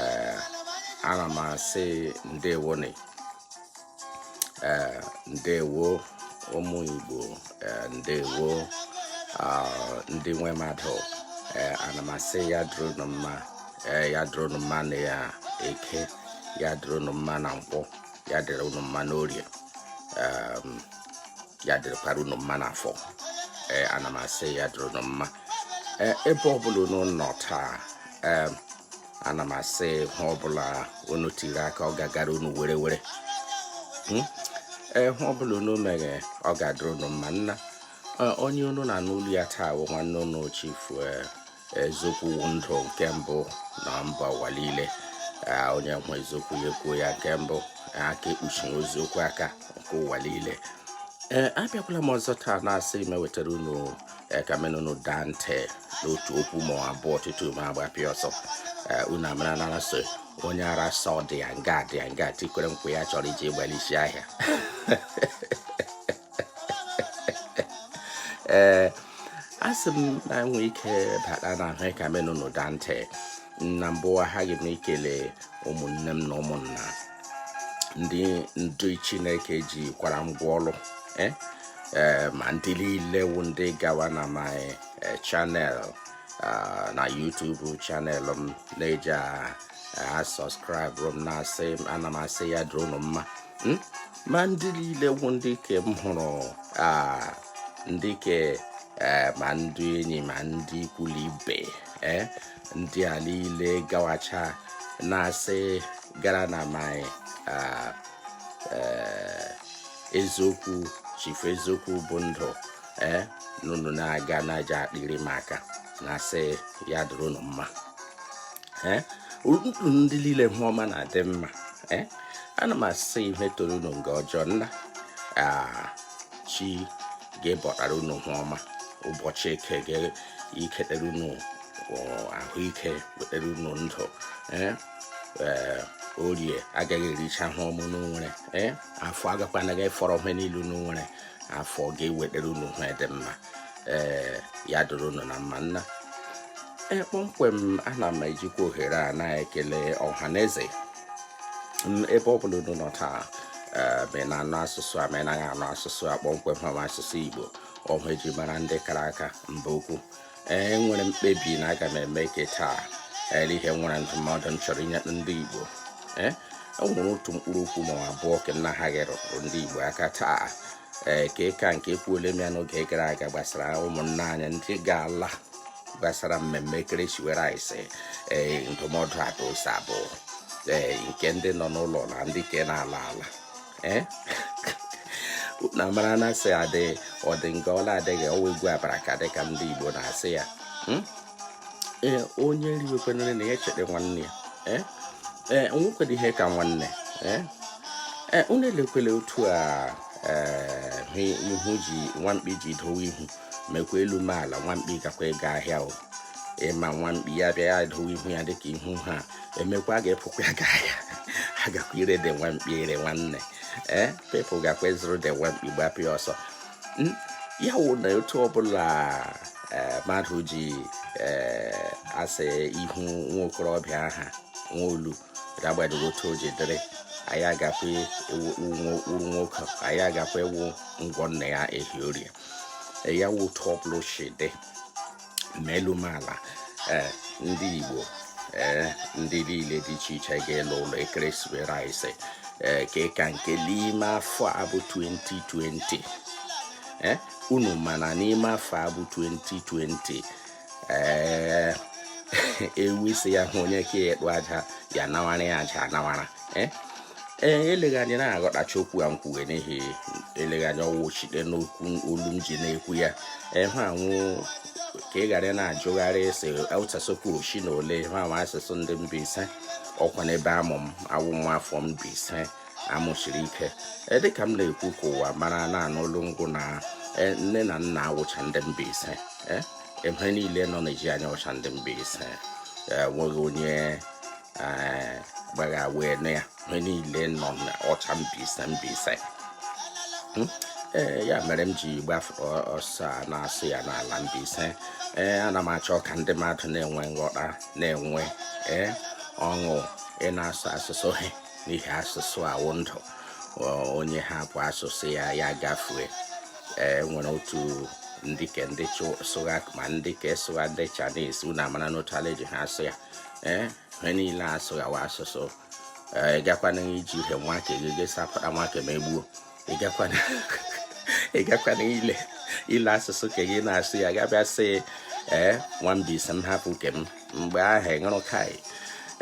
ee ana m asị ndewonụ ee ndewo ụmụ Igbo ee ndewo ndị nwe mmadụ ee ana m asị ya dịrịnụ mma ee ya dịrịnụ mma na ya eke ya dịrịnụ mma na nkwọ ya dịrị unu mma n'orie um, ya dịrịkwara unu mma n'afọ ee eh, ana m asị ya dịrị unu mma eh, ebe ọbụla unu nọ taa um, ana m asị ihe ọbụla unu tiri aka ọ ga-agara unu werewere hmm? ee eh, ihe ọbụla unu mere ọ ga-adịrị unu mma nna onye unu na-anụ olu ya taa bụ nwanne unu chifu eziokwu wụ ndụ nke mbụ na mba ụwa niile onye hụ eziokwu ya ekwuo ya nke mbụ aka ekpuchi eziokwu aka nke ụwa niile ee abịakwala m ọzọ taa na-asị m wetara unu ihe ka menụ n'ụda ntị n'otu okwu ma abụọ tutu m agbapịa ọsọ unu amara na a sị onye ara sị ọ dị ya nga dị ya nga tikwere nkwa ya chọrọ iji gbaa l'isi ahịa ee a sị m na nwee ike bata n'ihe ka menụ n'ụda ntị na mbụ aghaghị m ikele ụmụnne m na ụmụnna ndị ndị chineke jikwara ngwa ọrụ eh? eh, ma ndị niile wụ ndị gawa na my eh, channel ah, na YouTube channel m na-eji a ah, ah, subscribe m na-asị ana m asị ya dịrị ụnụ mma hmm? ma ndị niile wụ ndị ke m hụrụ ndị ke eh, ma ndị enyi ma ndị ikwu na ibe eh, ndị a niile gawacha na-asị gara na my eh, eziokwu chifu eziokwu bụ ndụ ee na unu na-aga na-eji akpịrị m aka na-asị ya dịrị unu mma eh? ndụ ndị niile ihe ọma na-adị mma eh? ana m asị ihe toro unu nga ọjọọ nna ah, chi ga-ebutara unu ihe ọma ụbọchị eke ga-eketere unu oh, ahụike wetere unu ndụ eh? orie agaghị ericha ihe ọma unu nwere ee afọ agakwanaghị afọrọ ihe niile unu nwere afọ ga-ewetara unu ihe dị mma ee ya dịrị unu na mma nna ee kpọmkwem ana m ejikwa ohere a na-ekele ọha na eze ebe ọ bụla unu nọ taa ma na-anụ asụsụ a ma anaghị anụ asụsụ a kpọmkwem ha asụsụ igbo ọhụ eji mara ndị kara aka mba ukwu ee nwere mkpebi na aga m eme ke taa ele ihe nwere ndụmọdụ m chọrọ inye ndị igbo ee e nwere otu mkpụrụ okwu ma abụọ ka nna ha ghere ndị igbo aka taa ee ke ka nke ekwuole m ya n'oge gara aga gbasara ụmụnna anyị ndị ga-ala gbasara mmemme ekeresimesi ee ndụmọdụ adosa bụ ee nke ndị nọ n'ụlọ na ndị ke na-ala ala ee na mara na asị adị ọ dị nga ọ la adịghị ọwa egwu abara ka dịka ndị Igbo na-asị ya hmm? ee onye riwekwa nri ya echere nwanne ya ee ee nwekwara ihe ka nwanne ee ee unu elekwele otu a ee ihu ji nwamkpi ji dowe ihu mekwa elu ma ala nwamkpi gakwa ịga ahịa o ịma nwamkpi ya bịa ya dowe ihu ya dịka ihu ha emekwa a ga-akpụkwa ya ga ahịa ha gakwa ire de nwamkpi ire nwanne ee pepụ gakwa ịzụrụ de nwamkpi gbapụ ya ọsọ hmm? ya wụ na otu ọbụla eh, mmadụ ji eh, ase ihu nwa okorobịa aha nwa olu agbanyeghị otu o ji dịrị ya agakwa uru nwoke ya agakwa ewu ngwọ nna ya ehi orie ya wụ otu ọbụla si dị ma elu ma ala eh, ndị Igbo ee eh, ndị niile dị iche iche ga-ala ụlọ ekeresimesi ee eh, ke ka nke n'ime afọ a bụ 2020 ee unu ma na n'ime afọ a bụ 2020 ee ewu isi ya hụ onye ka ekpu aja ya nawara ya aja anawara ee ee eleghị anya na-aghọtacha okwu a m kwuwe n'ihi eleghị anya ọ wụ shite n'okwu olu m ji na-ekwu ya ihe a wụ ka ị ghara na-ajụgharị ese ụtasokwu ochi na ole ihe a wụ asụsụ ndị Mbaise ọkwa n'ebe amụ m awụ nwa afọ Mbaise a mụchiri ike e, dịka m na-ekwu ka ụwa mara na-anụ olu m wụ na e, nne na nna wụcha ndị Mbaise e, ebe niile nọ n'ezi anyị wụcha ndị Mbaise enweghị onye eh, gbagha wee nụ ya ihe niile nọ na wụcha Mbaise Mbaise hmm? ee eh, ya mere m ji gbafe ọsọ a na-asụ ya n'ala Mbaise ee eh, ana m achọ ka ndị mmadụ na-enwe nghọta na-enwe ee ọṅụ ị na-asụ asụsụ ha n'ihi asụsụ awụ ndụ onye hapụ asụsụ ya ya gafue ee nwere otu ndị ke ndị sụgha ma ndị ke sụgha ndị Chinese unu amara n'otu ala eji ha asụ ya ee eh, ha niile asụghawa asụsụ eh, ị gakwana iji ihe nwa ke gị gị sapụta nwa ke m egbuo ị gakwana ile ile asụsụ ke gị na-asụ ya ga-abịa sị ee eh, nwa Mbaise m hapụ nke m mgbe ahụ ị ṅụrụ kai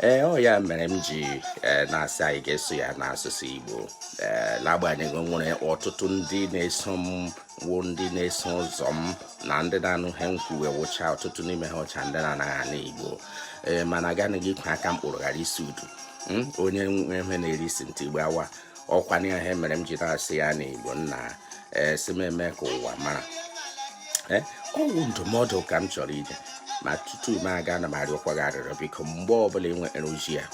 ee ọ ya mere m ji e, na-asị anyị ga-asụ ya n'asụsụ Igbo e, n'agbanyeghị nwere ọtụtụ ndị na-eso m wụ ndị na-eso ụzọ m na ndị na-anụ ihe m kwuwe wụcha ọtụtụ n'ime ha wụcha ndị na-anaghị anụ igbo ee mana agaghị gị ikwe aka mkpụrụ ghara isi udu hmm? onye nwe ihe na-eri isi ntị igbe awa ọkwa na ihe mere m ji na-asụ ya na igbo nna ee sị m mee ka ụwa mara ee ọ wụ ndụmọdụ ka m chọrọ inye ma tutu m aga ana m arịọkwa gị arịrịọ biko mgbe ọbụla ị nwere ozi a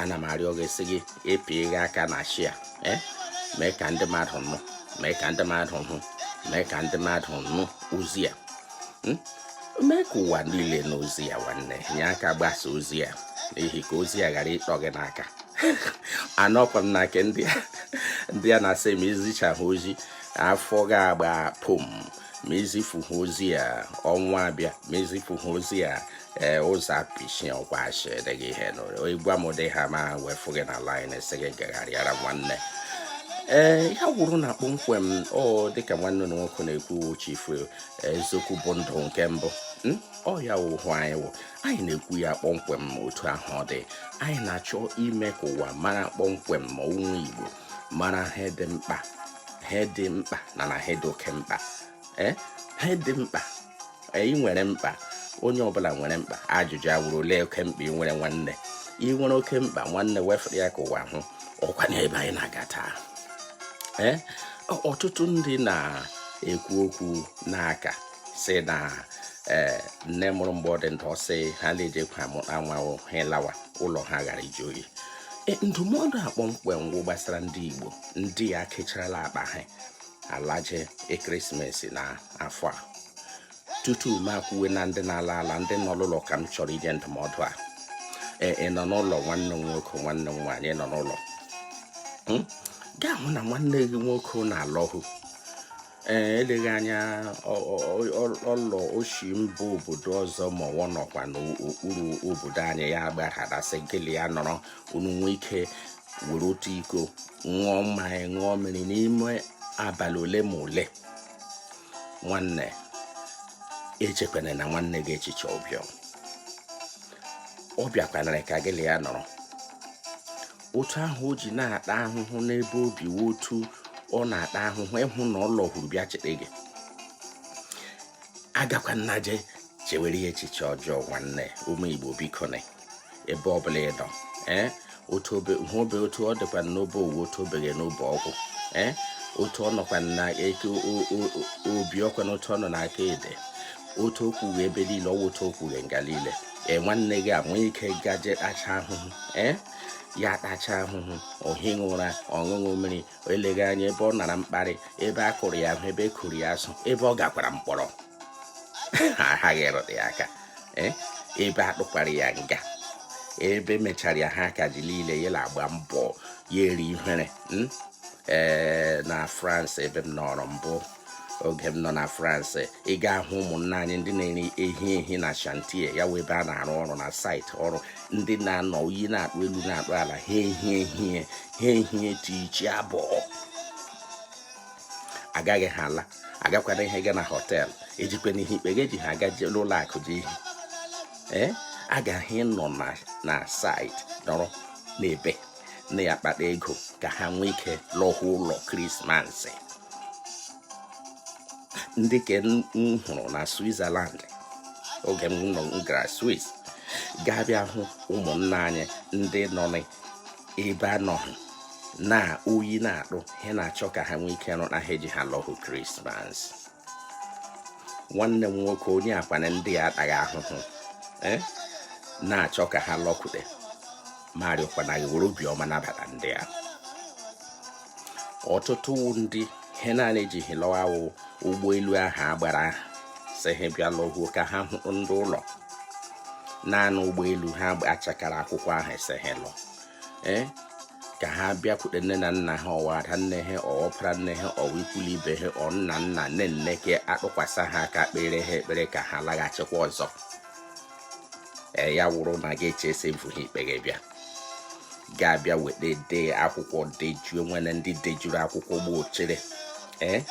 ana m arịọ gị sị gị ịpịa gị aka na share eh? mee ka ndị mmadụ nụ mee ka ndị mmadụ hụ mee ka ndị mmadụ nụ ozi a hmm? mee ka ụwa niile nụ ozi a nwanne nye aka gbasaa ozi a n'ihi ka ozi a ghara ịtọ gị n'aka anọkwa m na nke ndị a na-asị ma i zichahụ ozi a afọ ga-agba pom ma i zifuhụ ozi a ọnwụ abịa ma i zifuhụ ozi a ee ụzọ apịchie ọkwa achị edeghị ihe n'ụlọ ịgwa m ụdị ha ma wefu gị na line esi gị gagharịara nwanne ee ya wụrụ na kpọmkwem ọ dịka nwanne m nwoke na-ekwu chief eziokwu bụ ndụ nke mbụ hmm? ọ ya wụ ihe anyị wụ anyị na-ekwu ya kpọmkwem otu ahụ ọ dị anyị na-achọ ime ka ụwa mara kpọmkwem mee ụmụ Igbo mara ihe dị mkpa ihe dị mkpa na na ihe dị oke mkpa eh, ihe dị mkpa anyị eh, nwere mkpa onye ọbụla nwere mkpa ajụjụ awụrụ ole oke mkpa ị nwere nwanne ị nwere oke mkpa nwanne wefere ya ka ụwa hụ ọkwa n'ebe anyị na-aga taa ee eh, ọtụtụ ndị na-ekwu okwu na-aka sị na ee nne mụrụ mgbe ọ dị ndụ ọ sị ha na-ejikwa anwanwụ ha lawa ụlọ ha ghara iji oyi ndụmọdụ a kpọmkwem wụ gbasara ndị Igbo ndị a kecharala akpa ha alaje Christmas na afọ a tutu m ekwuwe na ndị na-ala ala ndị nọ n'ụlọ ka m chọrọ inye ndụmọdụ a ee ị nọ n'ụlọ nwanne m nwoke nwanne m nwaanyị nọ n'ụlọ hmm? ga-ahụ na nwanne gị nwoke na-alọhụ ee eleghị anya ọ lọ o shi mba obodo ọzọ ma ọ nọkwa n'okpuru obodo anyị ya gbaghara sị gị lị ya nọrọ unu nwee ike were otu iko ṅụọ mmanya ṅụọ mmiri n'ime abalị ole ma ole nwanne echekwana na nwanne gị echiche ọ bịa ọ bịakwanara ka gị lị ya nọrọ otu ahụ o ji na-ata ahụhụ n'ebe o bi otu ọ na-ata ahụhụ ịhụ na ọ lọhụrụ bịa cheta gị agakwana je chewere ya echiche ọjọọ nwanne ụmụ igbo biko na ebe ọbụla ị nọ ee otu obe hụ obe otu ọ dịkwa n'obe ọ wụ otu obeghe n'obe ọgwụ ee otu ọ nọkwa na eke obi ọkwa na otu ọ nọ n'aka ede otu o kwughe ebe niile ọ wụ otu o kwughe nga niile ee nwanne gị a nwee ike gaje tacha ahụhụ ee ya tacha ahụhụ o highị ụra ọ ṅụhụ mmiri eleghị anya ebe ọ nara mkparị ebe a kụrụ ya ahụ ebe a gbụrụ ya asụ ebe ọ gakwara mkpọrọ aghaghị ịrụta ya aka eh? ebe a tụkwara ya nga ebe e mechara ya akaje niile ya na-agba mbọ ya eri ihere hmm? ee eh, na France ebe m nọrọ mbụ oge m nọ na France ị ga-ahụ ụmụnna anyị ndị na-eri ehi ehi na chantier ya wụ ebe a na-arụ ọrụ na saịtị ọrụ ndị na-anọ oyi na-atụ elu na-atụ ala ha ehi ehie ha ehie tii chi abọọ agaghị ha ala agakwanụghị ha aga na họteelụ ejikwanụghị ikpeghe eji ha aga n'ụlọ akụ ji ihe ee aga ha anọ na saịtị ọrụ n'ebe na ya akpata ego ka ha nwee ike lọhụ ụlọ krismas ndị nke m hụrụ na Switzerland oge m nọ m gara Swiss gị abịa hụ ụmụnna anyị ndị nọ n'ebe anọghị na oyi na-atụ ha na-achọ ka ha nwee ike rụna ihe eji ha lọhụ krismas nwanne m nwoke onye akwana ndị a ataghị ahụhụ eh, na-achọ ka ha lọkwute m arịọkwanụ gị were obiọma nabata ndị a ọtụtụ ndị ihe naanị eji ha lọ wụ ụgbọelu ahụ a gbara si ha bịa lọhuo ka ha hụ ndị ụlọ naanị ụgbọelu ahụ a chakara akwụkwọ ahụ si ha lọ ee eh, ka ha bịakwute nne na nna ha ọ wụ ada nne ha ọ wụ ọpara nne ha ọ wụ ikwu la ibe ha ọ nna nna nne nne ka a tụkwasa ha aka kpeere ha ekpere ka ha laghachikwa ọzọ ee eh, ya wụrụ na gị echee sị mfu ha ikpeghe bịa gị abịa wee dee akwụkwọ dejuo nwere ndị dejuru akwụkwọ gba ochere ee eh,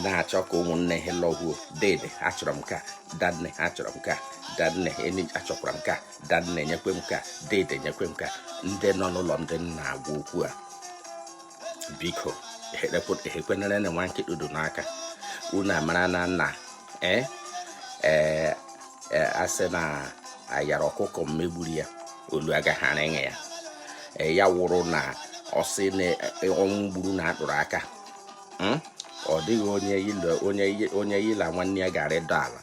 na-achọ ka ụmụnne ha lọhuo dede achọrọ m ka danne achọrọ m ka danne enyi achọkwara m ka danne nyekwe m ka dede nyekwe m ka ndị nọ n'ụlọ ndị m na-agwa okwu a biko ihe kwenere na nwa nkịtụdo n'aka unu amara na nna ee eh, ee eh, eh, a sị na a yara ọkụkọ mma gburu ya olu agaghị arịṅị ya ya wụrụ na ọ sị na ọnwụ gburu na atụrụ aka hmm? ọ dịghị onye yila nwanne ya gara ịdọ ala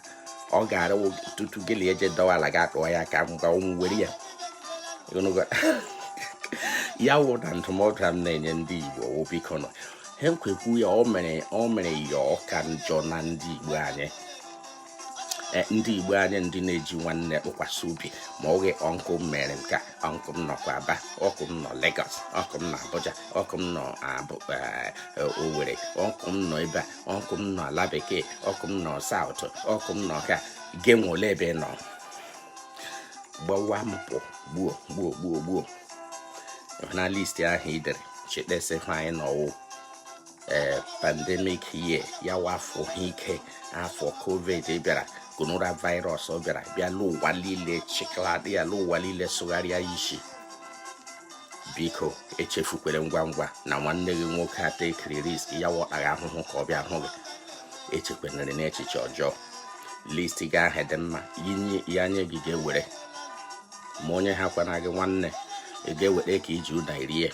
ọ ga-ara tutu gị na eje dọwa ala ga akpọọ ya ka ngwa ọnwụ were ya ya wụ na ndụmọdụ a m na-enye ndị Igbo wụ biko nọ ha kwekwu ya o mere o mere ya ọ ka njọ na ndị Igbo anyị e, ndị Igbo anyị ndị na-eji nwanne tụkwasị obi ma oge ọnkụ m mere nke ọnkụ m nọkwa Aba ọkụ m nọ Lagos ọkụ m nọ Abuja ọkụ m nọ e, e, Owerri ọkụ m nọ ebe a ọkụ m nọ ala bekee ọkụ m nọ saụt ọkụ m nọ ka gị nwe ole ebe nọ gbawa m pụ gbuo gbuo gbuo gbuo na listi ahụ i dere chekpesị anyị n'ọwụ ee eh, pandemic ye ya wafọ ha ike afọ covid bịara gonora virus ọ bịara bịa n'ụwa niile chịkladị ya n'ụwa niile sụgharịa isi biko echefukwere ngwa ngwa na nwanne gị nwoke a takiri risk ya wụ tara ahụhụ ka ọ bịa hụ gị echekwenere n'echiche ọjọọ list gị ahụ dị mma ya nye gị ga-ewere ma o nyehakwana gị nwanne ị ga-ewere ka iji ụda irie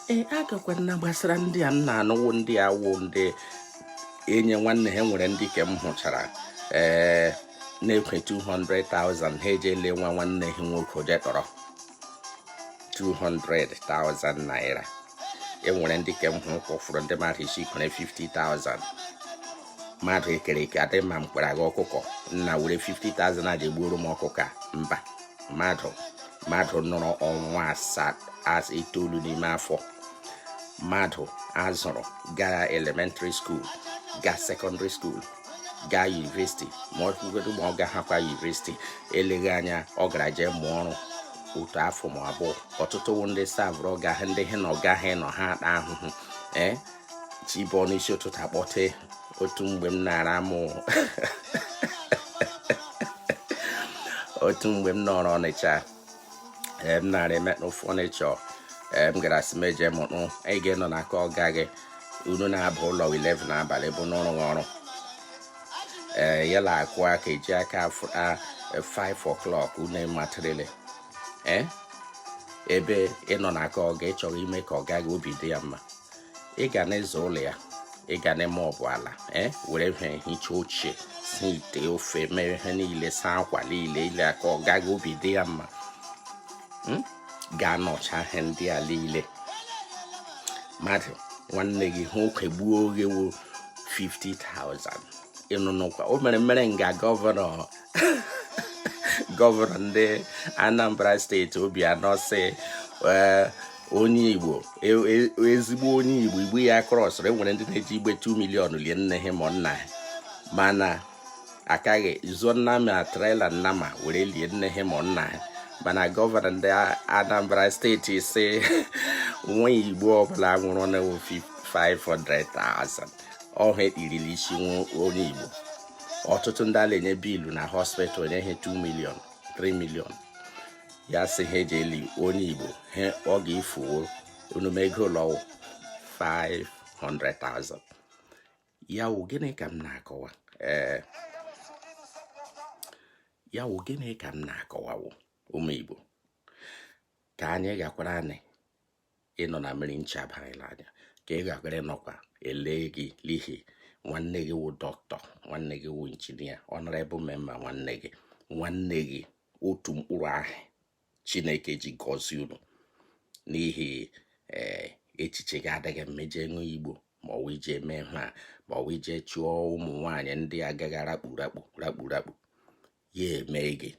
ee agakwa na gbasara ndị a m na-anụ wụ ndị a wụ ndị enye nwanne ha nwere ndị ke m hụchara ee na-ekwe 200,000 ha eje lee nwa nwanne ha nwoke oje tọrọ 200,000 naira enwere ndị ke m hụrụ kwụfụrụ ndị mmadụ isi kwere 50,000 mmadụ e kere eke adị ma m kwere aga ọkụkọ nna were 50,000 aja egbuoro m ọkụkọ a. mba mmadụ mmadụ nọrọ ọnwa asaa as itoolu n'ime afọ mmadụ a zụrụ gaa elementary school gaa secondary school gaa yunivesiti ma ọ bụgodu ma ọ gahakwa yunivesiti eleghị anya ọ gara jee mụọ ọrụ otu afọ ma abụọ ọtụtụ ndị savụrụ ọga ha ndị ha na ọga ha nọ ha ata ahụhụ ee chi bọọ n'isi ụtụtụ a kpọte otu mgbe m na-ara amụ otu mgbe m nọrọ ọnịcha m na-arụ metal fọnịchọ m gara sị m eje mụọ ọrụ anyị ga-anọ na aka ọga gị unu na-aba ụlọ 11 n'abalị bụ n'ọrụ ọrụ ee ya la akụ aka eji aka afụ- a- 5 o'clock unu matịrịlị ee ebe ị nọ na aka ọga ị chọrọ ime ka ọga gị obi dị ya mma ị ga na-aza ụlọ ya ị ga na-emọọpụ ala ee were ihe hichaa oche sie ite ofe mee ihe niile saa akwa niile ka ọga gị obi dị ya mma hmm? ga-anọcha ihe ndị a niile mmadụ nwanne gị nwoke gbuo gị ewo 50,000 ị nụnụkwa o mere mere nga gọvanọ gọvanọ ndị Anambra steeti Obiano sị onye igbo e, e, ezigbo onye igbo igbo ya krọsịrị enwere ndị na-eji igbe 2 milion lie nne ha ma nna ha mana akaghị zụọ nnama trela nnama were lie nne ha ma nna ha mana gọvanọ ndị anambra steeti sị nwa igbo ọbụla nwụrụ na 500,000 ọhụ ekpirili isi onye igbo ọtụtụ ndị a la-enye biilu na hospital enye ihe 2 million 3 million ya sị ihe e ji eli onye igbo ha ọ ga-efuwo onume ego ụlọwụ 500,000 ya wụ gịnị ka m na-akọwa ee eh, ya wụ gịnị ka m na-akọwawo ụmụ igbo ka anyị gakwara anyị ị nọ na mmiri ncha aba gị l'anya ka ị ga-agara nọkwa ele gị n'ihi nwanne gị wụ dọkịta nwanne gị wụ injinia honourable member nwanne gị nwanne gị otu mkpụrụ ahụ chineke ji gọzie unu n'ihi eh, echiche gị adịghị mma ije ịṅụ igbo ma ọ wụ ije eme ha ma ọ wụ ije chụọ ụmụ nwaanyị ndị a ga-arakpu rakpu rakpu rakpu ya eme gị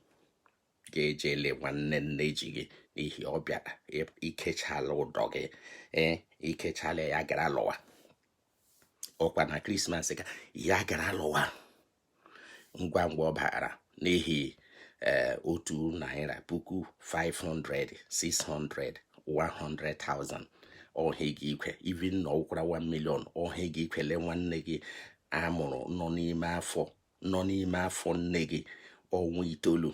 ga-eje ele nwanne nne ji gị n'ihi ọ bịara i kechala ụdọ gị ee i kechala ya gara lụwa ọkwa na krismas ka ya gara lụwa ngwa ngwa ọ bara n'ihi eh, otu naira puku 500 600 100,000 ọhịa gị ikwe even na ọkwara 1 million ọhịa gị ikwele nwanne gị a mụrụ nọ n'ime afọ nọ n'ime afọ nne gị ọnwa itoolu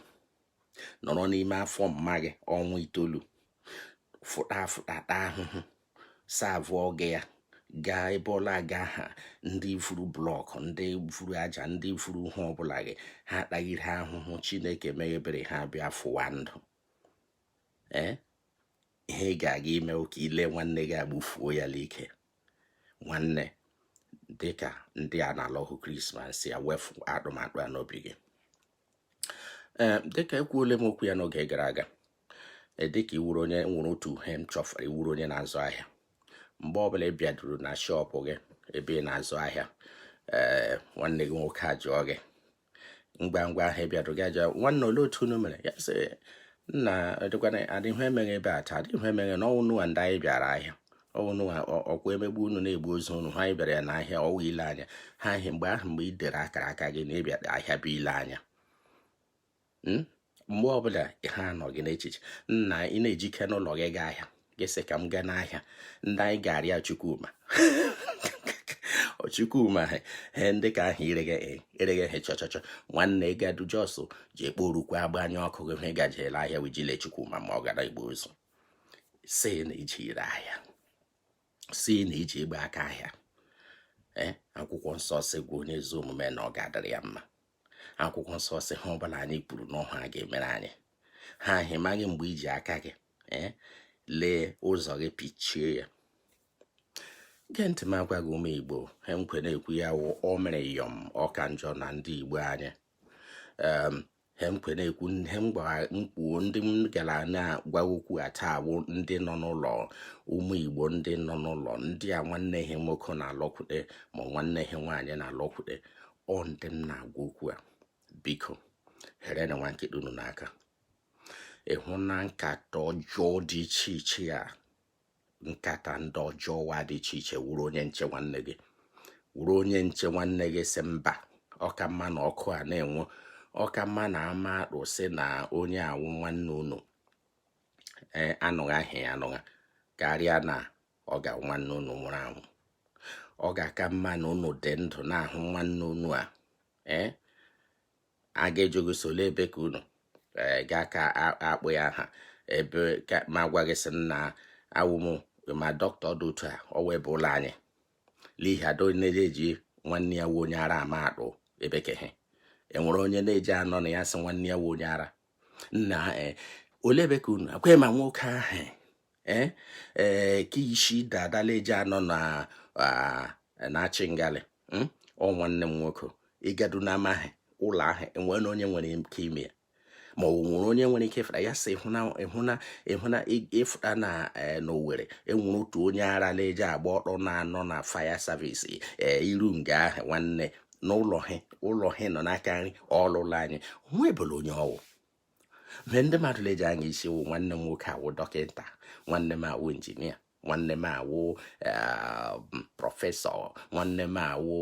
nọrọ n'ime afọ mma gị ọnwa itoolu fụta afụta taa ahụhụ serve ọga ya gaa ebe ọ la-aga ha ndị vuru blọkụ ndị vuru aja ndị vuru ihe ọbụla gị ha atagharị ahụhụ chineke mee ebere ha bịa fụwa ndụ ee ihe ị ga-aga ime wụ ka i le nwanne gị egbufuo ya n'ike nwanne dị ka ndị a na-ala ahụ krismas wefu atụmatụ a n'obi gị ee dịka ekwuole m okwu ya n'oge gara aga e, dịka ị wụrụ onye nwere otu ihe m chọfere ị wụrụ onye na-azụ ahịa mgbe ọbụla ị bịaduru na shọpụ gị ebe ị na-azụ ahịa ee nwanne gị nwoke ajụọ gị ngwa ngwa ahụ ị bịara gaja nwanne olee otu unu mere ya sị nna dịkwana adịghị emeghị ebe a taa adịghị emeghị na ọnwụnụwa ndị anyị bịara ahịa ọnwụnụwa ọkwa emegbu unu na-egbu ozu unu ha anyị bịara ya n'ahịa ọ wụ ile anya ha ahịa mgbe ahụ mgbe ị dere akara aka gị na ịbịa ahịa bụ ile anya hmm? mgbe ọbụla ihe a nọ gị n'echiche na ị na-ejike n'ụlọ gị gaa ahịa gị sị ka m gaa n'ahịa ndị anyị ga-arịa Chukwuma chukwuma he ndị ka ahụ ireghe ereghe he chọchọchọ nwanne gadu jos ji ekpo orukwe agbanye ọkụ gị he gajere ahịa wijile chukwuma ma ọ gara igbu ozu sị na iji ire ahịa sị na iji ịgba aka ahịa ee akwụkwọ nsọ sị gwa onye ezi omume na ọ ga-adịrị ya mma akwụkwọ nsọ sị ihe ọbụla anyị kwuru n'ọnụ a ga-emere anyị ha ị maghị mgbe iji aka gị eh, lee ụzọ gị pichie ya gee ntị m agwa gị ụmụ igbo ihe m kwo na-ekwu ya wụ o mere yọm ọka njọ na ndị igbo anyị ihe m kwo na-ekwu ihe m kwuo ndị m gara na-agwa okwu a taa bụ ndị nọ n'ụlọ ụmụ igbo ndị nọ n'ụlọ ndị a nwanne ha nwoke na-alọkwute ma nwanne ha nwaanyị na-alọkwute ọ ndị m na-agwa okwu a biko herenụ nwa nkịta unu n'aka ịhụ na nkata ọjọọ dị iche iche ya nkata ndị ọjọọ wa dị iche iche wụrụ onye nche nwanne gị wụrụ onye nche nwanne gị sị mba ọka mma na ọkụ a na-enwu ọka mma na mmadụ sị na onye a wụ nwanne unu e, anụgha aha ya anụgha karịa na ọ ga nwanne unu nwụrụ anwụ ọ ga-aka mma na unu dị ndụ na-ahụ nwanne unu a ee a ga-ajụ gị sị ole ebe ka unu eh, gaa ka akpọ ya aha ebe ma gwa gị sị na ọ wụ ma dọkịta dị otu a ọ wee bụ ụlọ anyị n'ihi ado na-eji nwanne ya wụ onye ara ama atụ ebe ke ha enwere onye na-eji anọ na-asị nwanne ya wụ onye ara na eh, ole ebe ka unu akwe ma nwoke ahụ ee eh, eh, ka isi dada na-eji anọ na ah, na-achị ngalị hmm? ọ nwanne m nwoke ịgadu na amaghị ụlọ ahụ enwere onye nwere ike ime ya ma ọ nwere onye nwere ike ịfụta ya sị ịhụna ịhụna ịhụna ịfụta na e, n'Owerri enwere otu onye ara na-eji agba ọtọ na-anọ na fire service e, i ru nga ahụ nwanne na ụlọ ha ụlọ ha nọ n'aka nri ọ ụlọ anyị nwa ebele onye ọwụ ma ihe ndị mmadụ na-eji anya isi wụ nwanne m nwoke awụ dọkịta nwanne m awụ engineer nwanne m awụ eh, professor nwanne m awụ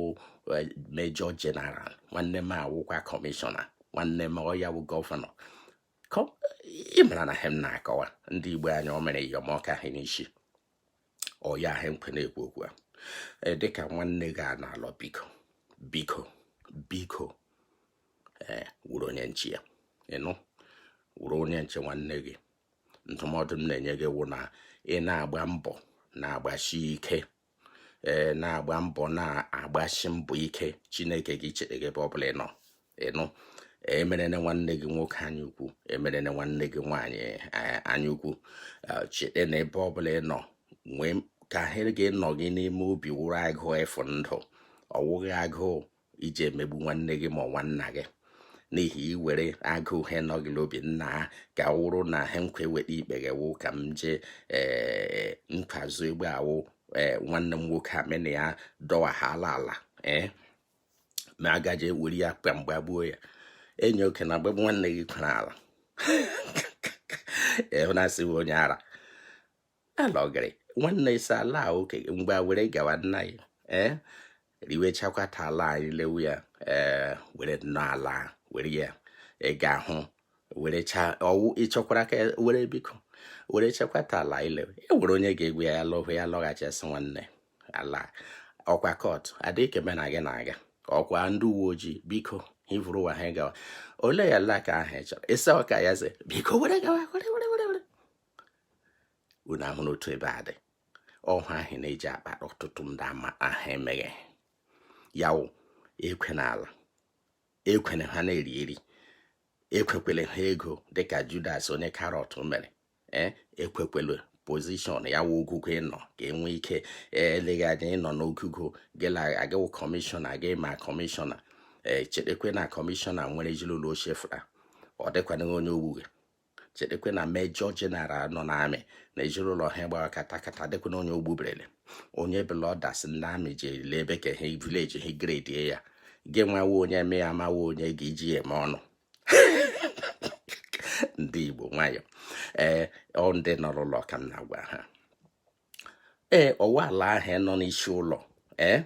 eh, major general nwanne m awụkwa commissioner nwanne m ọya wụ governor ị mara na ihe m na-akọwa ndị igbo anyị o mere yọm ọka ha n'isi ọ ya wụ ihe m kwo na-ekwu okwu a e, dịka nwanne gị a na-alọ biko biko biko ee wụrụ onye nche ya ịnụ wụrụ onye nche nwanne gị ndụmọdụ m na-enye gị wụ na ị na-agba mbọ na-agbasi ike ee na-agba mbọ na-agbasi mbọ ike chineke gị chere gị ebe ọ bụla ị nọ ịnụ emerene nwanne gị nwoke anya ukwu emerene nwanne gị nwaanyị eh, anya ukwu eh, chete na ebe ọbụla ị nọ nwee ka ihe ga-anọ gị n'ime obi wụrụ agụụ efu ndụ ọwụghị agụụ ije emegbu nwanne gị ma nwanna gị n'ihi i nwere agụụ ihe nọ gị n'obi nna ha ka wụrụ na ha nkwa eweta ikpe gị wụ ka m jee eh, n'azụ egbe awụ nwanne m nwoke amena ya dọwa ha n'ala ee ma agaje were ya kpa mgbe gbuo ya enyi oke na mgbe nwanne gị kwara ala ịhụ na asịghị onye ara alọgịrị nwanne isi ala oke mgbe were gawa nna ya ee eh, riwechakwa ta ala anyị lewu ya ee eh, were nnọọ ala were ya ị ga-ahụ were chaa ọ wụ ị chọkwara ka were biko were chekwata ala ile e nwere onye ga-egwe ya lọhụ ya lọghachi asị nwanne ala ọkwa court adịghị eme na gị na-aga ọkwa ndị uwe ojii biko hivụrụ ụwa ha gawa ole ya ala ka ahụ chọrọ ịsa ọka ya ze biko were gawa were were were were unu ahụ n'otu ebe a dị ọhụ ahụ na-eji akpa ọtụtụ ndị ama ahụ emeghe ya wụ ekwe n'ala ekwene ha na-eri eri ekwekwele ha ego dịka Judas onye Karịọt mere ee ekwekwele position ya wụ ogogo ị nọ ka enwe ike eleghị anya ị nọ n'ogogo gịla a gị wụ commissioner gị ma commissioner ee chetakwa na commissioner nwere ezinụlọ ochie fụra ọ dịkwanịghị onye ogbuge chetakwa na major general nọ n'army na ezinụlọ ha gbara katakata dịkwa na onye ogbuberele onye bụla ọ dasị ndị army ji ele ebe ka ha village ha gredie ya gị nwawo onye mee amawo onye ga-eji ya eme ọnụ ndị Igbo nwayọ ee ọ ndị nọ n'ụlọ ka m na-agwa ha ee ọ wụ ala ahụ nọ n'isi ụlọ ee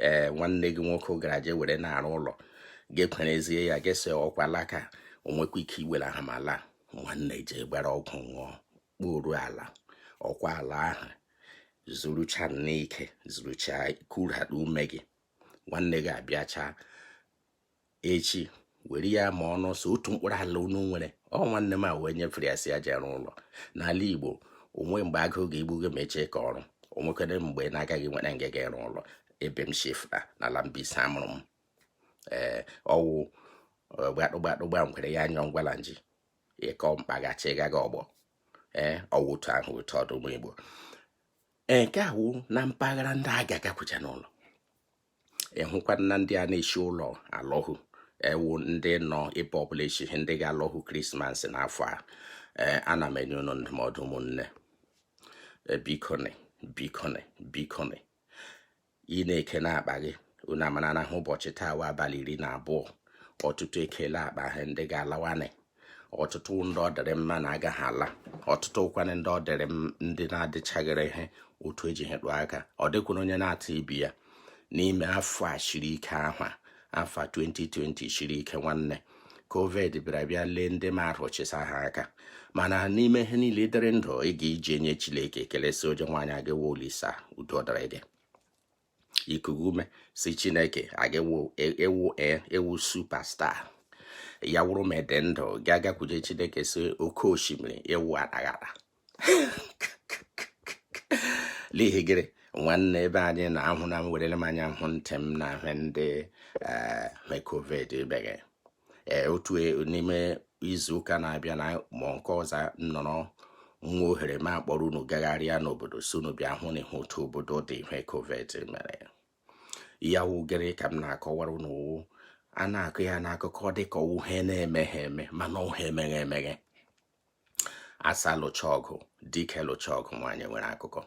ee nwanne gị nwoke gara je were na-arụ ụlọ ga-ekwerezie ya ga-ese okwu ala ka o nwekwa ike iwere aha ma laa nwanne je gbara ọgwụ ṅụọ kporu ala ọkwa ala ahụ zurucha n'ike zurucha kurata ume gị nwanne gị abịacha echi were ya ma ọnụ ọsọ otu mkpụrụ ala unu nwere ọ nwanne m a wee nyefere ya sị ya je rụọ ụlọ n'ala Igbo o nwe mgbe agụụ ga-egbu gị mechie ka ọrụ o nwekwere mgbe na-agaghị nwere nga ga ịrụ ụlọ ebe m shi fụta n'ala Mbaise mụrụ m ee ọ wụ gbadụgbadụgba ngwere ya anyọ ngwala nji ịkọ mkpaghachi gaga ọgbọ ee ọ wụ otu ahụ otu ọ dị ụmụ Igbo nke a wụ na mpaghara ndị a ga-agakwucha n'ụlọ ị hụkwa na ndị a na-eshi ụlọ alọhụ ọ wụ ndị nọ ebe ọbụla eshi ihe ndị ga-alọhụ Christmas n'afọ a ee ana m enye unu ndụmọdụ ụmụnne e, bikonị bikonị bikonị ị na-eke n'akpa gị unu amara na ha ụbọchị taa wụ abalị iri na abụọ ọtụtụ ekele akpa ha ndị ga-alawanị ọtụtụ ndị ọ dịrị mma na agaghị ala ọtụtụ wụkwanị ndị ọ dịrị ndị na-adịchaghịrị ihe otu eji hetụ aka ọ dịkwuru onye na-atụ ibi ya n'ime afọ a shiri ike ahụ afọ 2020 shiri ike nwanne covid bịara bịa lee ndị mmadụ chịsa ha aka mana n'ime ihe niile dịrị ndụ ị ga-eji enye Chineke ekele si onye nwaanyị aga olisa udo dịrị gị ikuku ume si chineke aga ewu e, ewu superstar ya wụrụ ma ị dị ndụ gị agakwuje chineke si oke osimiri ewu anaghara n'ihi gịnị nwanne ebe anyị na-ahụ na m werele m anya hụ ntị m na ahụ ndị eh, covid ibe gị ee otu e, n'ime izu ụka na-abịa na ma nke ọzọ nọrọ nwa ohere m akpọrọ unu gagharịa n'obodo sị unu bịa hụ na ihe otu obodo dị ihe covid mere ya wụ gịrị ka m na-akọwara unu a na-akọ ya n'akụkọ dịka ihe na-emeghị eme mana ihe mere eme a sị a lụcha ọgụ dike lụcha ọgụ nwaanyị nwere akụkọ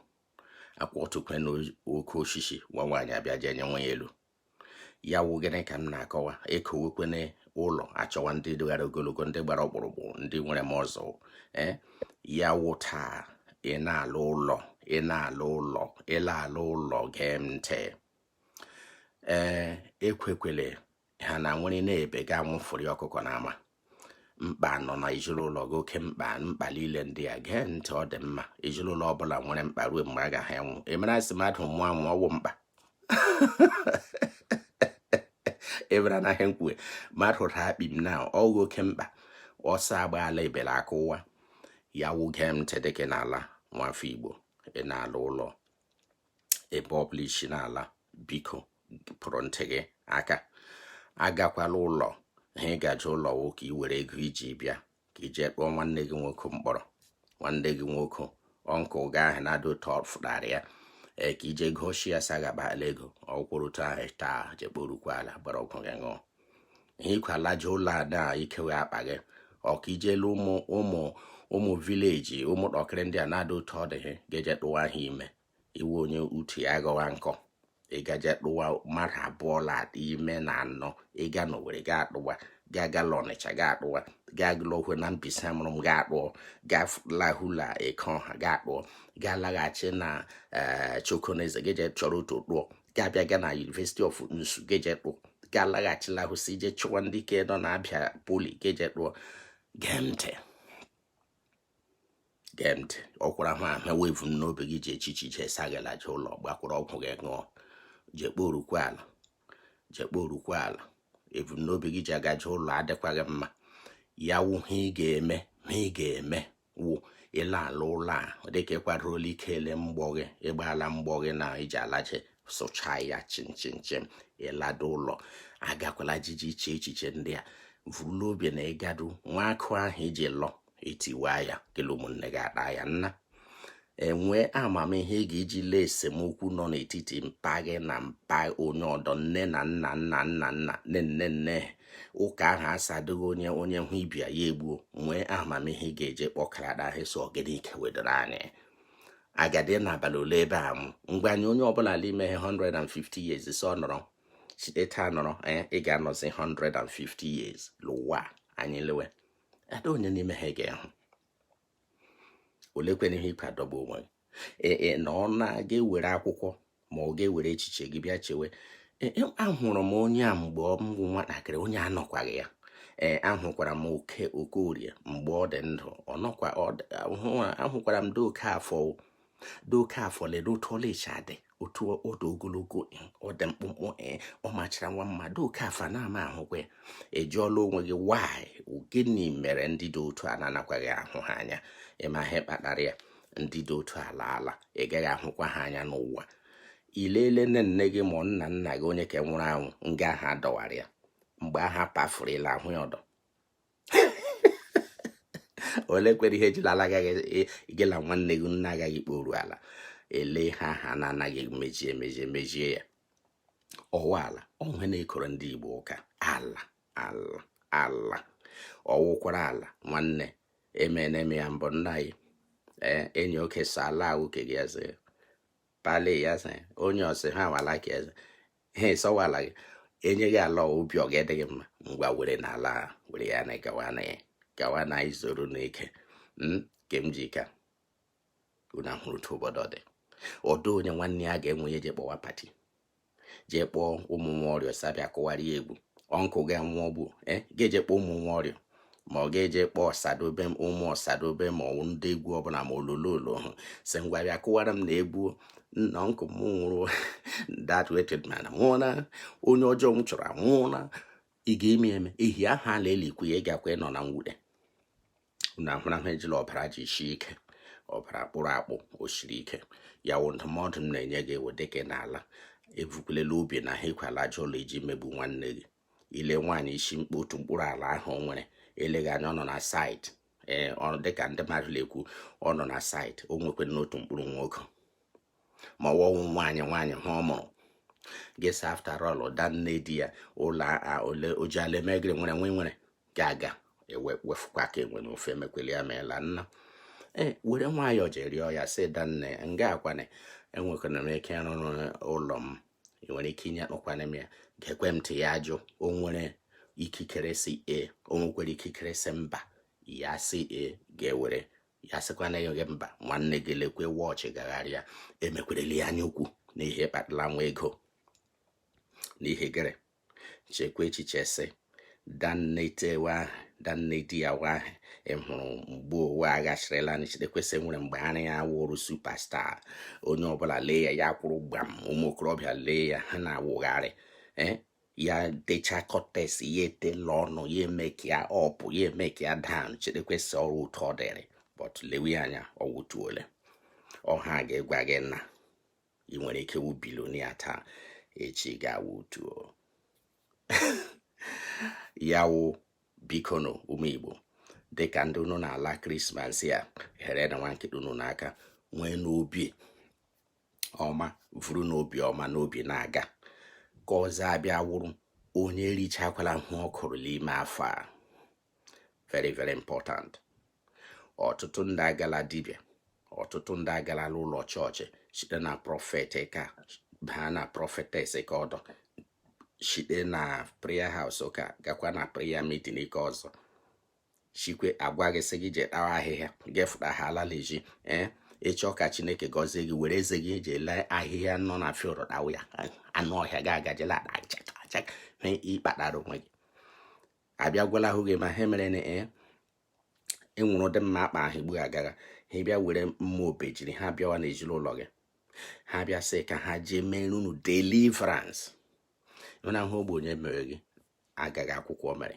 akwatukwanụ oke osisi nwa nwaanyị abịa jee nyịwa ya elu ya wụ gịnị ka m na-akọwa ekewekwene ụlọ achọwa ndị togara ogologo ndị gbara ọkpụrụkpụ ndị nwere muscle ee ya wụ taa ị na-ala ụlọ ị na-ala ụlọ ị la-ala ụlọ gee m ntị ee ekwekwele ha na nwere n'ebe ga anwụfụri ọkụkọ n'ama mkpa nọ na ezinụlọ gị oke mkpa mkpa niile ndị a gee ntị ọ dị mma ezinụlọ ọbụla nwere mkpa ruo mgbe a gaghị enwụ emere a sị mmadụ nwụọ anwụ ọ wụ mkpa ebere anaghị nkwue mmadụ ra akpi m na ọghị oke mkpa ọsọ agbaala ebere aka ụwa ya wụ gee m ntị dịka ị na-ala nwafọ igbo ị na-ala ụlọ ebe ọ bụla i si na-ala biko pụrụ ntị gị aka agakwala ụlọ ha ị gaje ụlọ wụ ka ị were ego i ji bịa ka i jee kpọọ nwanne gị nwoke mkpọrọ nwanne gị nwoke uncle gị ahụ na-adị ụtọ fụtara ya ee ka i jee gosi ya sagabala ego ọ kwụrụ otu ahụ taa jee kporukwa ala gbara ọgwụ gị ṅụọ ịkwalaje ụlọ ada i kewe akpa gị ọka ijelu ụmụ ụmụ ụmụ village ụmụ kpọkịrị ndị a na-ada otu ọ dị gị ga-eje tụwa ha ime ị wụ onye utu ya gọwa nkọ ị gaje tụwa mmadụ abụọ la ime na anọ ị ga n'owere ga atụwa ga gala ọnịcha ga atụwa ga lọhwe na mbaise mụrụ m ga atụọ ga lahula eke ọha ga atụọ ga laghachi na eh, chokoneze ga-eje chọrọ otu tụọ ga-abịa ga na University of Nsu ga-eje tụọ ga-alaghachila ahụ si ije chụwa ndị ke nọ na abia poly ga-eje tụọ gee ntị gee ntị ọ kwụrụ ha ahụ wụ ebumnobi gị ji echiche ije sị gị laje ụlọ gbakwụrụ ọgwụ gị ṅụọ jee kporukwa ala jee kporukwa ala ebumnobi gị ji agaje ụlọ adịkwaghị mma ya wụ ha ị ga-eme ha ị ga-eme wụ ị la-ala ụlọ a ọ dịka ị kwadola ike ele mgbọ gị ị gbaala mgbọ gị na i ji alaje sụcha ya chimchimchim ị laduo ụlọ agakwala jiji iche echiche ndị a vuru la obi na ị gaduo nwa akụ ahụ i ji lọ etiwa ya kele ụmụnne gị ataa ya nna nwee amamihe ị ga-eji lee esemokwu nọ n'etiti mpa gị na mpa onye ọdọ nne na nna nna nna nna nne nne nne ụka ahụ asadịghị onye onye hụ ibe ya egbuo nwee amamihe ị ga-eji kpọkarada ahụ sị ọ gịnị ike wedoro anyị agadị anọ abalị ole ebe a mụ ngwa anyị onye ọbụla n'ime 150 years si ọ nọrọ site taa nọrọ eh, ị ga-anọzi 150 years n'ụwa anyị lewe ada onye n'ime ha ga-ehụ olekwanụ ihe ị ka-adọgbu onwe gị e, e, na ọ na ị ga-ewere akwụkwọ ma ọ ga-ewere echiche gị bịa chewe e, ahụrụ m onye a mgbe ọ bụ nwatakịrị onye a anọkwaghị ya ee ahụkwara m okeorie mgbe ọ dị ndụ ọ nọkwa ahụkwara m dee okeafọ dee okeafọ lee otu ọ la-eshi adị otu ọ dị ogologo eh, ọ dị mkpụmkpụ eh, ọ machara nwa mmadụ okeafọ na-ama ahụkwa ya ị jụọla onwe gị why gịnị mere ndị dị otu a na-anakwaghị ahụ ha anya ị ma ihe kpatara ya ndị dị otu a alaala ị gaghị ahụkwa ha anya n'ụwa i lele nne nne gị ma nna nna gị onye ke nwụrụ anwụ nga ha dọwara ya mgbe ha pafuru ị la-ahụ ya ọdọ ole kwere ihe ejila ala agaghị igela e, nwanne gị nna agaghị kporu ala ele ihe ha na-anaghị emeji emeji emejie ya ọ wụ ala onwe na-ekoro ndị Igbo ụka ala ala ala ọ wụkwara ala nwanne emena eme ya mbụ nna anyị ee enyi oke sa ala wụ ke gị eze pali ya eze onye ọsị ha wala ka eze ha ịsọwa ala gị enye gị ala obi ọ ga-adị gị mma ngwa were na ala were ya na gawa na ya gawa na izoro n'ike hmm, nke m ji ka unu ahụrụ otu obodo dị ọdụ onye nwanne ya ga-anwụ ya eje kpọwa pati jee kpọọ ụmụ nwa ọrịa sị ha bịa kụwara ya egwu ọnkụ ga-enwe ọgbụ eh, ga-eje kpọọ ụmụ nwa ọrịa ma ọ ga-eje kpọọ osadebe m ụmụ osadebe ma ọ wụ ndị egwu ọbụla ma ololo hụ sị ngwa bịa kụwara m na egwu nna nkụ m nwụrụ that wretched man nwụọla onye ọjọọ m chọrọ anwụọla ị ga-eme eme ehi aha a na-elikwu ya ị gakwa ịnọ na mwute na ahụrahụ ejila ọbara ji shi ike ọbara kpụrụ akpụ o siri ike ya wụ ndụmọdụ m na-enye gị ewe dịka n'ala ebukwulela obi na ha ekwela aja ụlọ iji megbu nwanne gị i lee nwaanyị isi mkpe otu mkpụrụ ala ahụ o nwere eleghị anya ọ nọ na saịtị ee ọrụ dịka ndị mmadụ na-ekwu ọ nọ na saịtị o nwekwanụ otu mkpụrụ nwoke ma ọ wọwụ nwaanyị nwaanyị ha ọ mụrụ ị ga-asị after all da nne di ya ụlọ ole o ji ala eme gịrị nwere nwe nwere ga-aga ewefukwa ka enwere ofe emekwele ya meela nna ee were nwayọọ jee rịọ ya sị da nne nga a kwanụ enwekwanụ m ike ịrụrụ ụlọ m ị nwere ike inye akpọkwana m ya ga-ekwe m ntị ya ajụ o nwere ikikere sị ee o nwekwere ikikere sị mba ya sị ee gị ewere ya sịkwanụ gị mba nwanne gị lekwe wọchị gagharịa emekwereli ya anya ukwu n'ihe kpatara nwa ego n'ihi gịrị chekwa echiche sị danne itewe ahụ danne di ya wa ahụ ị hụrụ mgbe ụwa aghachirịla chetekwe sị nwere mgbe ara ya wụrụ superstar onye ọbụla lee ya ya kwụrụ gbam ụmụ okorobịa lee ya ha na-awụgharị eh, ya techa cortex ya etela ọnụ ya emeke ya up ya emeke ya down chetekwe sị ọrụ ụtọ ọ dịrị but lewe ya anya ọ wụ otu ole ọha ga-egwa gị na ị nwere ike wụ billionaire taa echi gị awụ otu ya wụ bikonụ ụmụ Igbo dịka ndị unu na-ala krismas a herenụ nwa nkịta unu n'aka werenụ obi ọma vurunụ obi ọma n'obi na-aga ka ọzọ abịa wụrụ onye richakwala hụ ọkụrụ n'ime afọ a very very important ọtụtụ ndị agala dibịa ọtụtụ ndị agala ụlọ chọọchị site na prophet nke a baa na prophetess nke ọdọ site na prayer house nke a gakwa na prayer meeting nke ọzọ chikwe a gwa gị sị gị jee tawa ahịhịa gị afụta ha ala l'ezi ee eh? ị chọ ka chineke gọzie gị were eze gị eji ele ahịhịa nọ na field tawa ya anụ ọhịa gị agajela ịkpatara onwe gị abịa gwala ahụ gị ma ha mere na e enwere ụdị mma akpa ahụ igbu agagha ha bịa were mma obejiri ha bịawa n'ezinụlọ gị ha bịa sị ka ha jee mere unu deliverance ị mana ọ wụ ogbenye mere gị agaghị akwụkwọ mere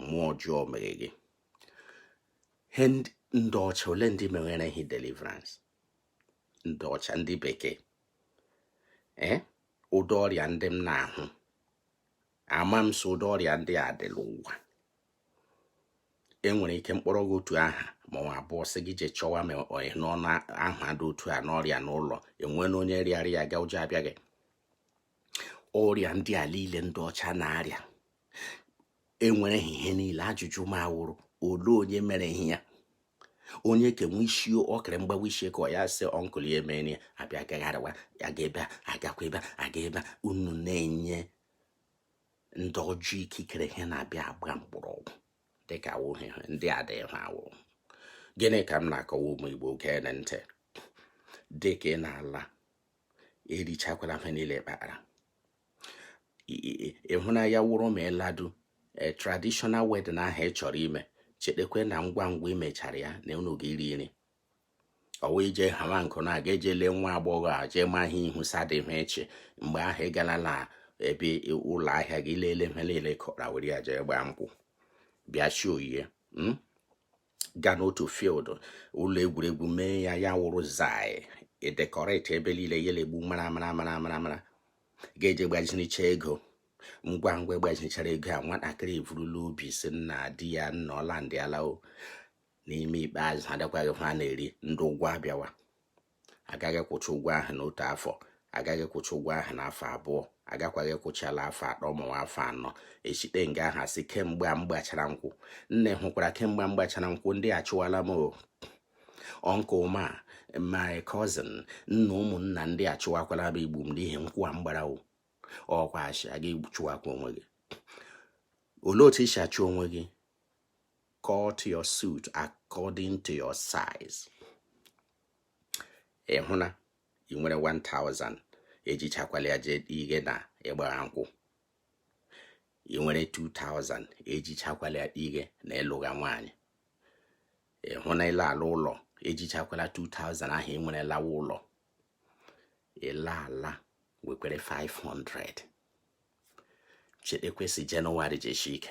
mmụọ ọjọọ mere gị ndị ọcha olee ndị mere ha deliverance ndị ọcha ndị bekee ee ụdị ọrịa ndị m na-ahụ ama m sị ụdị ọrịa ndị a dị n'ụwa enwere nke m kpọrọ gị otu aha ma ọ abụọ sị gị jee chọwa ma ọyị n'ọnụ aha dị otu a n'ọrịa n'ụlọ enwela onye rịara ya gaa ụjọ abịa gị ọrịa ndị a niile ndị ọcha na-arịa enwere ihe niile ajụjụ m awụrụ olee onye mere ha onye kenwe isi ọkara mgbawa isi ka ọ ya sị uncle ya mere ya abịa gagharịwa ya ga ebe agakwa ebe aga ebe unu na-enye ndị ọjọọ ikikere ha na-abịa agba mgbọrọgwụ dịka awụghị ndị a dịghị ha ọ wụ gịnị ka m na-akọwa ụmụ Igbo geenụ ntị dịka ị na-ala erichakwala ihe niile kpara ịhụ n'anya ọ wụrụ ma ịladu e, traditional wedding ahụ ị chọrọ ime chetekwe na ngwa ngwa i mechara ya na unu ga-iri nri ọwa ije hama nkụ na aga eje lee nwa agbọghọ a jee ma ihe ihu sadịhụ echi mgbe ahụ ị gala na ebe ụlọ ahịa gị leele ihe niile kọra were ya jee gbaa nkwụ bịa chi oyiye hmm? gaa n'otu field ụlọ egwuregwu mee ya ya wụrụ zai e decorate ebe niile ya egbu mara mara mara mara mara ga-eje gbazinicha ego ngwa ngwa gbazinichara ego a nwatakịrị evurula obi sị nna di ya na ọ landịala o n'ime ikpeazụ ha dịkwaghị ha na-eri ndị ụgwọ abịawa a gaghị akwụcha ụgwọ ahụ n'otu afọ a gaghị akwụcha ụgwọ ahụ n'afọ abụọ a gakwaghị akwụcha n'afọ atọ ma ọ wụ afọ anọ e shite nga ahụ a sị kemgbe m gbachara nkwụ nne hụkwara kemgbe m gbachara nkwụ ndị achụwala m uncle m my cousin nna ụmụnna ndị achụwakwala m igbu m n'ihi nkwụ a m gbara o ọ kwa achị aga chụwakwa onwe gị olee otu i si achụ onwe gị cut your suit according to your size ị hụ na ị nwere 1000 ejichakwala ya jee ihi na ị gbara nkwụ ị nwere 2000 ejichakwala ya ihi na ị lụga nwaanyị ị hụ na ị la-ala ụlọ ejichakwala 2000 ahụ ị nwere lawa ụlọ ị la-ala wekwere 500 chetekwa sị January ji eshi ike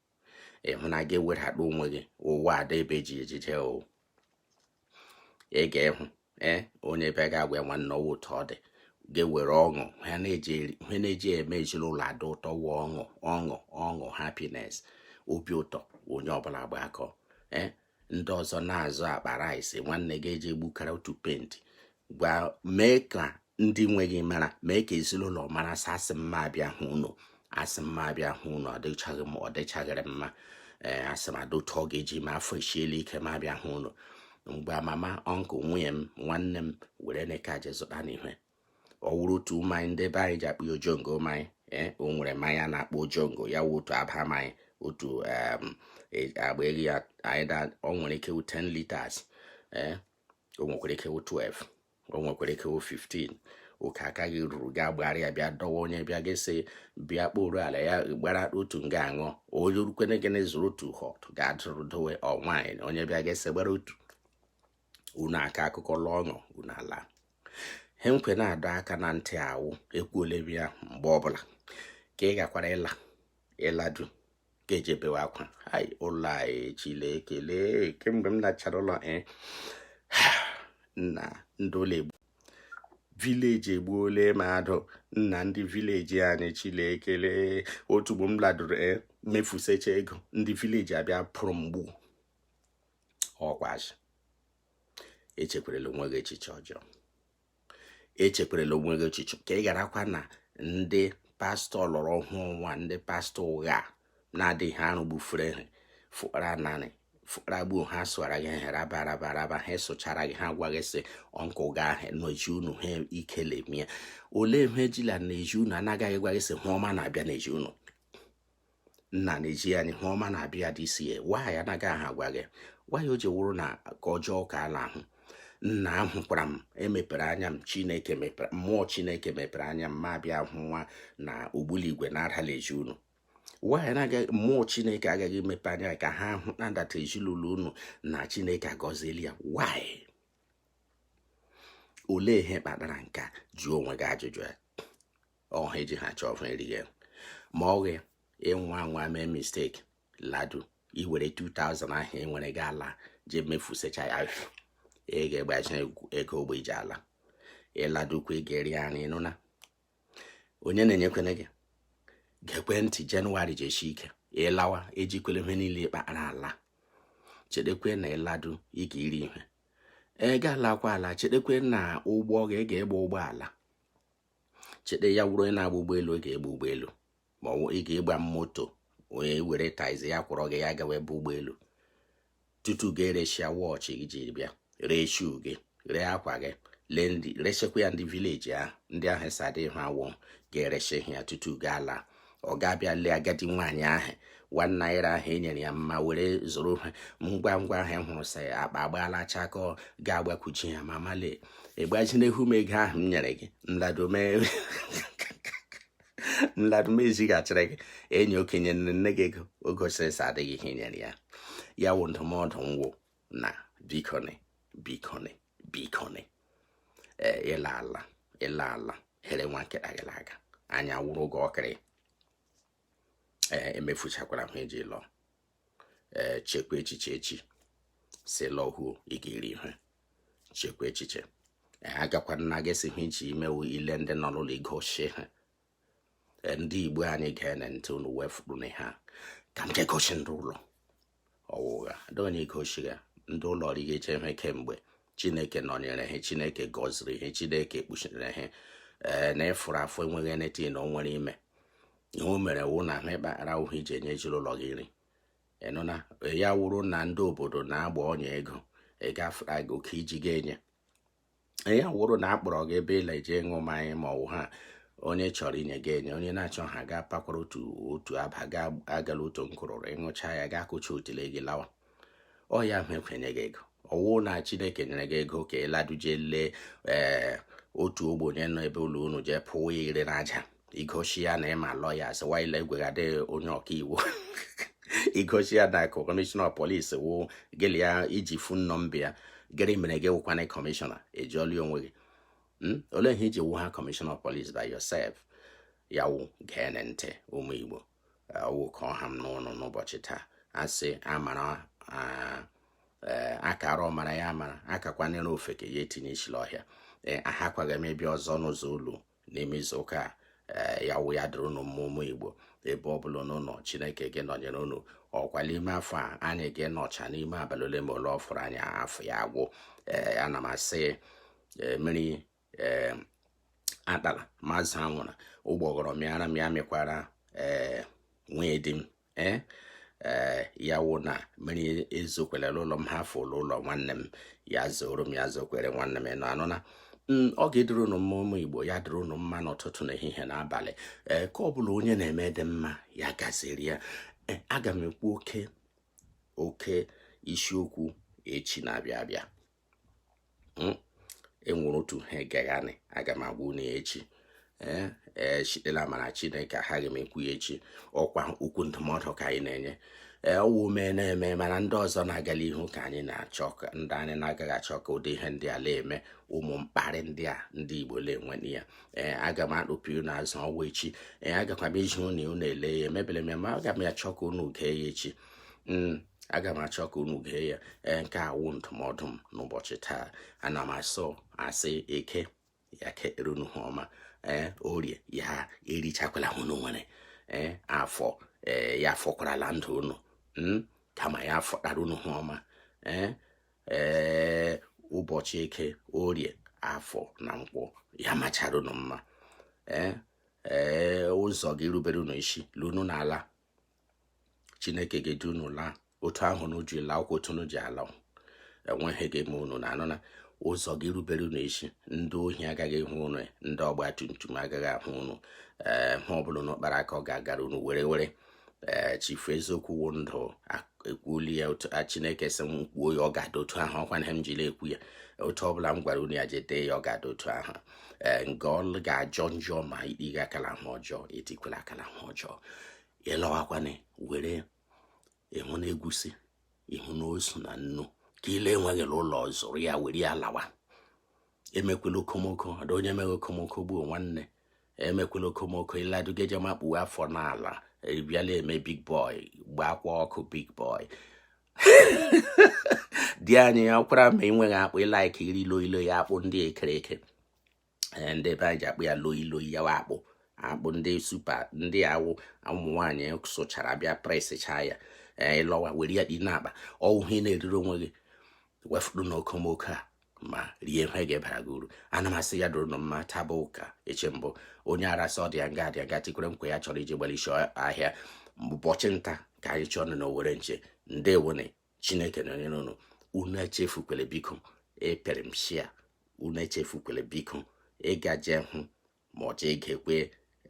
ị hụ na gị ewedata onwe gị ụwa ada ebe ji ejije o ị ga-ehụ ee onye bịa gị agwa ya nwanne ọ wụ otu ọ dị gị ewere ọṅụ ihe a na-eji eme ezinụlọ adị ụtọ wụ ọṅụ ọṅụ ọṅụ happiness obi ụtọ onye ọbụla gbakọọ ee ndị ọzọ na-azụ akpa rice nwanne gị ejee bukara otu paint gwa mee ka ndị nwe gị mara mee ka ezinụlọ mara sị asị m m abịa hụ unu asị m m abịa hụ unu ọ dịchaghị m ọ dịchaghịrị mma ee asị m ọ dị otu ọ ga-eji m afọ esiela ike ka m bịa hụ unu ngwa mama uncle nwunye m nwanne m werenụ nke a jee zụtanụ ihe o nwere otu mmanya ndị be anyị ji akpọ ya ojongo mmanya ee o nwere mmanya a na-akpọ ojongo ya wụ otu aba mmanya otu em, e- agba eri ya anyị da ọ nwere ike wụ 10 liters ee o nwekwara ike wụ 12 o nwekwara ike wụ 15 nke aka gị ruru gaa gbara ya bịa dọwa onye bịa gị sị bịa kporo ala ya gbara otu nga aṅụ onye rukwene gị na ịzụrụ otu hot gaa zụrụ dowe ọnwaanyị onye bịa gị sị gbara otu unu aka akụkọ ṅụọ ọṅụ unu ala ihe m kwe na-adọ aka na ntị a wụ ekwuole m ya mgbe ọbụla ka ị gakwara ịla ị ladu ka ị jee bewe akwa hai ụlọ anyị Chileke le kemgbe m nachara ụlọ eh, na ndị ụlọ egbu village egbuole mmadụ nna ndị village anyị Chileke le otu ugbo m laduru eh, mefusecha ego ndị village abịa kpụrụ m gbuo ọ kwa asị echekwarala onwe gị echiche ọjọọ echekwarala onwe gị echiche ka ị garakwa na ndị pastọ lọrọ ọhụụ nwa ndị pastọ ụgha na-adịghị arụ gbufere ha fụkara nanị fụkara gbuo ha sụara gị ha raba raba raba ha sụchara gị ha gwa gị sị ọnkụ gị ahụ n'ezi unu ha ikele mie olee ihe ejila n'ezi unu anaghị gwa gị sị hụ ọma na-abịa n'ezi unu nna na-eji ya n'ihu ọma na-abịa dị isi ya why anaghị ha agwa gị why o ji wụrụ na nke ọjọọ ka ha la-ahụ nna ahụkwara m emepere anya m chineke mepere mmụọ chineke mepere anya m ma bịa hụwa na ogbuligwe na-ada l'ezi unu why na mmụọ chineke agaghị emepe anya ka ha hụ na ndata ezinụlọ unu na chineke agọziela ya why olee ihe kpatara nke a jụọ onwe gị ajụjụ a ọha eji ha chọọ ọha erighị ma ọ ghe ịnwa nwa mee mistake ladu ị were 2000 ahụ ị nwere ji ala je mefusecha ya ị ga-egbazi ego ụgbọ ị ji ala ị ladukwa ị ga-eri ya nri nụna onye na-enyekwene gị gekwe ntị jenụwarị ji esi ike ị lawa ejikwele ihe niile ị kpara ala chetekwe na ị ladu ị ga-eri ihe ị ga-alakwa ala chetekwe na ụgbọ gị ga-egba ụgbọala cheta ya wụrụ onye na-agba ụgbọelu ị ga-egba ụgbọelu ma ọ ị ga-egba moto onye were taxi ya kpọrọ gị ya gawa ebe ụgbọelu tutu gị eresịa wọchị gị jiri bịa ree shu gị ree akwa gị resikwa ya ndị vileji ahụ ndị ahụ sadị ha awọ ga-eresi ha tutu gị ala ọ ga-abịa lee agadi nwaanyị ahụ one naira ahụ ị nyere ya mma were zụrụ ha ngwa ngwa ahụ ị hụrụ sị akpa agbaala chakoo ga-agbakuchi ya mama lee ị gbazinụ m ego ahụ m nyere gị m ladu m ezighachiri gị inye okenye nne gị ego o gosiri sị adịghị ihe nyere ya ya wụ ndụmọdụ ngwụ na bikoni bikoni bikoni ee ịla ala ịla ala here nwa nkịta gị aga anya wụrụ gị ọkịrị ee emefuchakwara hụ eji lọ ee chekwa echiche echi sị ị lọhuo ị ga-eri ihe chekwa echiche agakwana gị sị hụ ị je ime wụ ile ndị nọ n'ụlọ igosi ha ndị igbo anyị geenụ ntị unu wee fụrụ na ha ka m je gosi ndị ụlọ ọ wụghị ndị onye gosi ya ndị ụlọ rigeche ihe kemgbe chineke nọnyere ha chineke gọziri ha chineke kpuchiri ha ee na ị fụrụ afọ enweghị eneti na o nwere ime ihe o mere wụ na ha ị kpara hụ ị ji enye ezinụlọ gị nri ị nụna ya wụrụ na ndị obodo na-agba ọnya ego ị gafere gị oke ị ji ga-enye ya wụrụ na akpọrọ gị ebe ịla eje ịṅụ mmanya ma ọwụ ihe onye chọrọ inye gị enye onye na-achọ ha ga pakwara otu otu aba ga agala otu mkpụrụ ịṅụcha ya gị akụcha otile gị lawa ọ ya ahụ ekwenye gị ego ọwụ na chineke nyere gị ego ka ịladuje lee ee eh, otu ogbenye nọ ebe ụlọ unu jee pụwa ire n'aja igosi ya na ịma lọya sịwaile egweghadị onye ọkaiwu igosi ya na kọmishọna polisi wụ gị la ya iji fon nọmba ya gịnị mere gị wụkwana kọmishọna ejiọli onwe gị hmm? olee ihe iji wụ ha kọmishọna polisi by yourself ya wụ gee ntị ụmụ igbo wụ ka ọ ha m n'ọnụ n'ụbọchị taa asị amara Eh, akara ọmara ya mara akakwanyere ofeke ya etinye isi la ọhịa ee eh, aghakwaghị m ịbịa ọzọ n'ụzọ ụlọ n'ime izu ụka eh, ya wụ ya dịrị ụnụ mma ụmụ igbo ebe ọ bụla ụnụ nọ chineke ga-anọnyere ụnụ ọkwa n'ime afọ a anyị ga-anọcha n'ime abalị ole ma ole ọ fọrọ anyị afọ ya agwụ ee eh, ana m asị eh, mmiri ee atala ma azụ anwụla ụgbọghọrọ mịara m ya mịkwara ee nwunye di m ee eh, ya wụ na mmiri ezokwala ụlọ m hafụ ụlọ nwanne m ya zoro m ya zokwere nwanne m unu anụna Mm, ọ ga-adịrị unu mma ụmụ igbo ya dịrị unu mma n'ụtụtụ na ehihie na abalị ee eh, nke ọ bụla onye na-eme dị mma ya gaziri ya eh, aga m ekwu oke oke isiokwu echi na-abịa abịa hmm? enwere otu ihe egaghanị aga m agwa unu ya echi ee eh, eh, site la amara chineke aghaghị m ekwu ya echi ọkwa okwu ndụmọdụ ka anyị na-enye ee eh, ọwụ mee na-eme mana ndị ọzọ na-agala ihu ka anyị na-achọ ndị anyị na-agaghị achọ ka ụdị ihe ndị a na-eme ụmụ mkparị ndị a ndị igbo na-enwe na ya ee aga m akpụpụ unu azụ ọwa echi ee agakwa m iji unu unu ele ya emebere m ya ma aga m achọ ka unu gee ya echi hmm. aga m achọ ka unu gee ya ee nke a wụ ndụmọdụ m n'ụbọchị taa ana m asị sị eke ya kekere unu ihe ọma ee orie ya erichakwala unu nwere ee afọ ee ya afọkwarala ndụ unu hmm, kama ya afọtara unu ihe ọma ee ee ụbọchị eke orie afọ na nkwọ ya machara unu mma ee ee ụzọ ga-erubere unu isi la unu na-ala chineke ga-edu unu laa otu ahụ unu ji laa ụkwụ otu unu ji ala enweghị ihe ga-eme unu unu anụna ụzọ ga-erubere unu isi ndị ohi agaghị ahụ unu ndị ọgba tum tum agaghị ahụ unu ee ihe ọ bụla unu kpara aka ọ ga-agara unu were were ee chifu eziokwu wụ ndụ ekwuola ya otu chineke sị m kwuo ya ọ ga-adị otu ahụ ọkwa na m jiri ekwu ya otu ọ bụla m gwara unu ya jete ya ọ ga-adị otu ahụ ee nga ọlụ ga-ajọ njọ ma ikpe ga akala ha ọjọọ etikwela akala ha ọjọọ ị lọwakwana were ịhụ na egwusi ịhụ na osu na nnu ke ị le-enweghị la ụlọ zụrụ ya were ya lawa emekwela okomoko ada onye meghị okomoko gbuo nwanne emekwela okomoko ị ladu ga-eje makpuwe afọ n'ala ebiala eme big boy gbaakwa ọkụ big boy di anyị ya kwara ma ị nweghị akpụ ị like iri loi loi ya akpụ ndị ekere eke eh, ndị ebe anyị ji akpọ ya loi loi ya akpụ akpụ ndị super ndị ahụ ụmụ nwaanyị sụchara bịa pressịchaa ya eh, ị lọwa were ya dị n'akpa ọ wụhụ ị na-eriri onwe gị wefụrụ n'okomoko a ma rie ihe ga-ebara gị uru ana m asị ya dụrụ nụ mma taa bụ ụka eche mbụ onye ara sị ọ dị ya nga a dị nga tikwere nkwa ya chọrọ iji gbalịsi ahịa ụbọchị nta ka anyị chụọ nụ na owere nchi ndewonụ chineke nọnyere unu unu echefukwele biko ịpịrị m share unu echefukwele biko ịgaje hụ ma ọ chọọ igekwe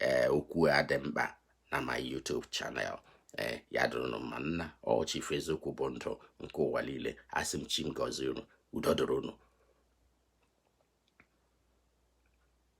ee eh, okwu a dị mkpa na my YouTube channel ee eh, ya dụrụnụ mma nna ochie ife eziokwu bụ ndụ nke ụwa niile asị m chi m gọzie unu udo dịrị unu